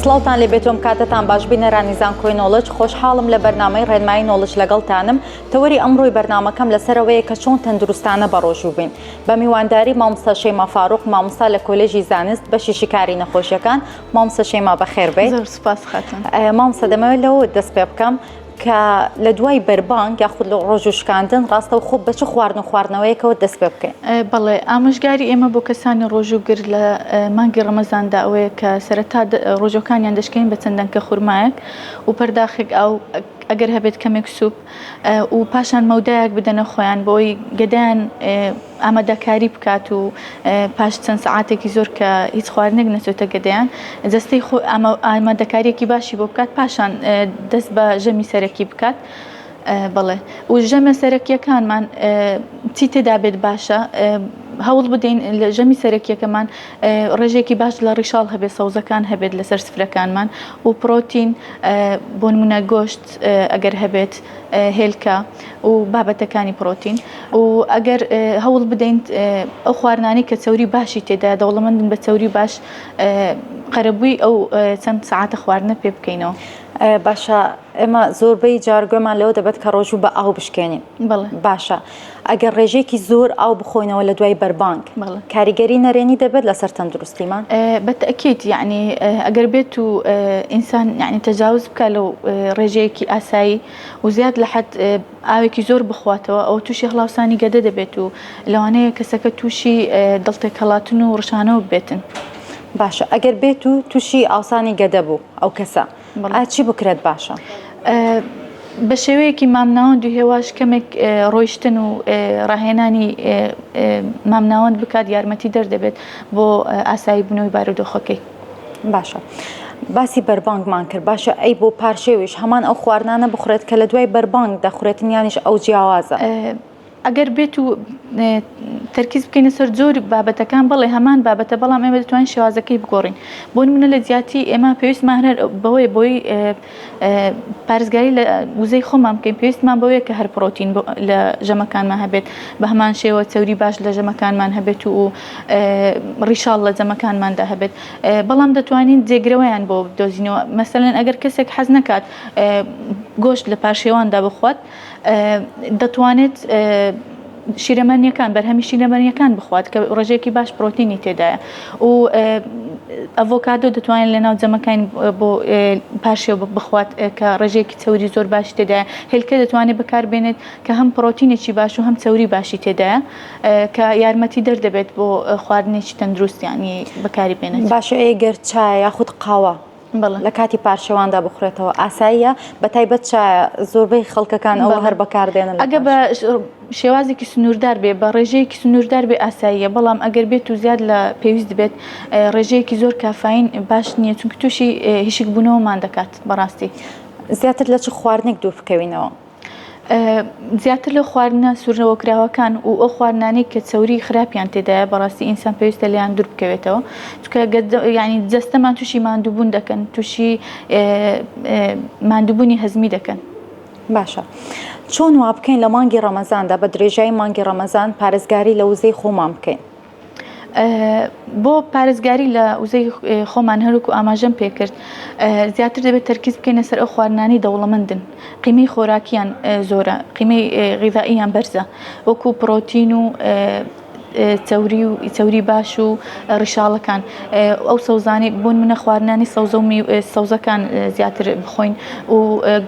سڵاوتان لێ بێتۆم کاتتان باش بینەرانی زانکۆی نۆڵج خۆشحاڵم لە بەرنمەی ڕێنمایی نۆڵج لەگەڵتانم تەوەری ئەمڕۆی بەرنمەکەم لەسەرەوەیە کە چۆن تەندروستانە بەڕۆژوو بین بە میوانداری مامستا شەیما فاروق مامستا لە کۆلێژی زانست بەشی شیکاری نەخۆشیەکان مامسە شەیما بەخێربێت مامسە دەمەوێت لەوە دەست پێ بکەم کە لە دوای بەربانگ یاخود لە ڕۆژ و شکاندن ڕاستە و خۆ بە چ خواردن و خواردنەوەیەکەوە دەست پێ بکەین بەڵێ ئامۆژگاری ئێمە بۆ کەسانی ڕۆژووگر لە مانگی ڕەمەزاندا ئەوەیە کە سەرەتا ڕۆژەکانیان دەشکین بە چەند دەنکە خورمایەک و پەرداخێک ئەو ئەگەر هەبێت کەمێک سوپ و پاشان مەودایەک بدەنە خۆیان بۆی گەدەیان ئامادەکاری بکات و پاش چەند سەعاتێکی زۆر کە هیچ خواردنێک نەچێتە گەدەیان جەستەی خۆ ئامادەکاریەکی باشی بۆ بکات پاشان دەست بە ژەمی سەرەکی بکات. بڵێ و ژەمە سەرەکیەکانمان چی تێدا بێت باشە هەوڵ بدەین لە ژەمی سەرەکیەکەمان ڕێژێکی باش لە ڕیشاڵ هەبێت سەوزەکان هەبێت لەسەر سفرەکانمان و پرۆتین بۆنمونە گۆشت ئەگەر هەبێت هێلکە و بابەتەکانی پڕۆتین و ئەگەر هەوڵ بدەین ئەو خواردنانەی کە چەوری باشی تێدایە دەوڵەمەندن بە چەوری باش قەرەبووی ئەو چەند سعاتە خواردنە پێ بکەینەوە. باشە ئێمە زۆربەی جارگوێمان لەوە دەبێت کە ڕۆژوو بە ئاو بشکێنین باشە ئەگەر ڕێژێکی زۆر ئاو بخۆینەوە لە دوای بەربانگ کاریگەری نەرێنی دەبێت لەسەر تەندروستیمان بەتەکیت یعنی ئەگەر بێت و ئینسان یعنی تەجاوز بکە لەو ڕێژەیەکی ئاسایی و زیاد لە حەد ئاوێکی زۆر بخواتەوە ئەوە تووشی هەڵاوسانی گەدە دەبێت و لەوانەیە کەسەکە تووشی دڵتێکهەڵاتن و ڕشانەوە ببێتن. باشە ئەگەر بێت و تووشی ئاوسانی گەدە بوو ئەو کەسە ئا چی بکرێت باشە؟ بە شێوەیەکی مامناوەند و هێواش کەمێک ڕۆیشتن و ڕاهێنانی مامناوەند بکات یارمەتی دەر دەبێت بۆ ئاسایی بوونەوەی بارودۆخەکەی. باشە باسی بەربانگمان کرد باشە ئەی بۆ پارشێویش هەمان ئەو خواردنانە بخورێت کە لە دوای بەربانگ دەخورێتن یانیش ئەو جیاوازە ئەگەر بێت و تەرکیز بکەینە سەر زۆر بابەتەکان بڵێ هەمان بابەتە بەڵام ئێمە دەتوانین شێوازەکەی بگۆڕین بۆ منە لە جیاتی ئێمە پێویستمان هەر بەوەی بۆی پارێزگاری لە وزەی خۆمان بکەین پێویستمان بەوەیە کە هەر پرۆتین لە ژەمەکانمان هەبێت بە هەمان شێوە چەوری باش لە ژەمەکانمان هەبێت و ڕیشاڵ لە جەمەکانماندا هەبێت بەڵام دەتوانین جێگرەوەیان بۆ دۆزینەوە مەسەن ئەگەر کەسێک حەز نکات گۆشت لە پاشێواندا بخوات دەتوانێت شیرەمەنیەکان بەرهەمی شیرەمەنیەکان بخوات کە ڕژێکی باش پرۆتینی تێدایە و ئەڤۆکادۆ دەتوانێت لە ناو جەمەکان بۆ پاشێ بخوات کە ڕژێکی چوری زۆر باش تێدایە هێلکە دەتوانێت بەکاربێنێت کە هەم پرۆتینێکی باش و هەم چوری باشی تێدایە کە یارمەتی دەردەبێت بۆ خواردنێکی تەندروستیانی بەکاری بێنێت باشە ئەگەر چای یاخود قاوە لە کاتی پارچەواندا بخورێتەوە ئاساییە بە تایبەت چایە زۆربەی خەڵکەکان ئەوە هەر بەکاردێنن ئەگە بە شێوازێکی سنووردار بێ بە ڕێژەیەکی سنووردار بێ ئاساییە بەڵام ئەگەر بێت و زیاد لە پێویست بێت ڕێژەیەکی زۆر کافین باش نییە چونکە تووشی هیشک بوونەوەمان دەکات بەڕاستی زیاتر لە چ خواردنێک دوور بکەوینەوە. زیاتر لەو خواردنە سوورنەوە کراوەکان و ئەو خواردنانەی کە چەوری خراپیان تێدایە بەڕاستی ئینسان پێویستە لێیان دوور بکەوێتەوە چکە ینی جەستەمان تووشی مادووبوون دەکەن تووشی مادووبوونی هەزمی دەکەن. باشە چۆن وا بکەین لە مانگی ڕەمەزاندا بە درێژایی مانگی ڕەمەزان پارێزگاری لە وزەی خۆمان بکەین؟ بۆ پارێزگاری لە وزەی خۆمان هەروکو ئاماژەم پێکرد زیاتر دەبێت تەرکیز بکەینە سەر ئەو خواردنانی دەوڵەمەندن قیمەی خۆراکیان زۆرە قیمەی غیزائیان بەرزە وەکو پرۆتین و چوری و چوری باش و ڕیشاڵەکان ئەو سەوزانی بوون منە خواردنانی سەوزە و سەوزەکان زیاتر بخۆین و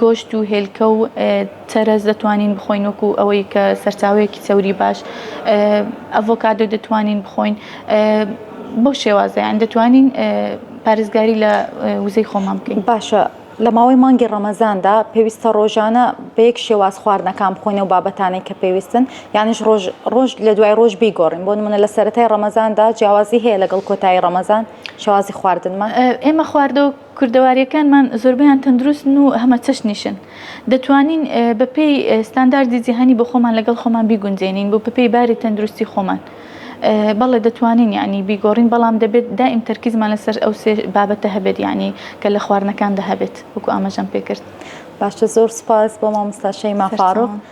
گۆشت و هێلکە و چەرەز دەتوانین بخۆین وەکو ئەوەی کە سەرچاوەیەکی چەوری باش ئەڤۆکادۆ دەتوانین بخۆین بەو شێوازەیان دەتوانین پارێزگاری لە وزەی خۆمان بکەین باشە لە ماوەی مانگی ڕەمەزاندا پێویستە ڕۆژانە بە یەک شێواز خواردنەکان بخۆینە و بابەتانێک کە پێویستن یانیش ڕۆژ ڕۆژ لە دوای ڕۆژ بیگۆڕین بۆ منە لە سەتای ڕەمەزاندا جیاوازی هەیە لەگەڵ کۆتایی ڕەمەزان شوازی خواردنمان ئێمە خواردە و کوردەوارییەکانمان زۆربەیان تەندروستن و هەمەچەشنیشن. دەتوانین بەپێی ستانداردی جیهانی بۆ خۆمان لەگەڵ خۆمان بیگونجێنین بۆ بەپێی باری تەندروستی خۆمان. بەڵێ دەتوانین یانی بیگۆڕین بەڵام دەبێت دائیم تەرکیزمان لەسەر ئەو سێ بابەتە هەبێت یانی کە لە خواردنەکاندا هەبێت وەکو ئاماژەم پێکرد. باشە زۆر سوپاس بۆ مامۆستا شەیما فاروق.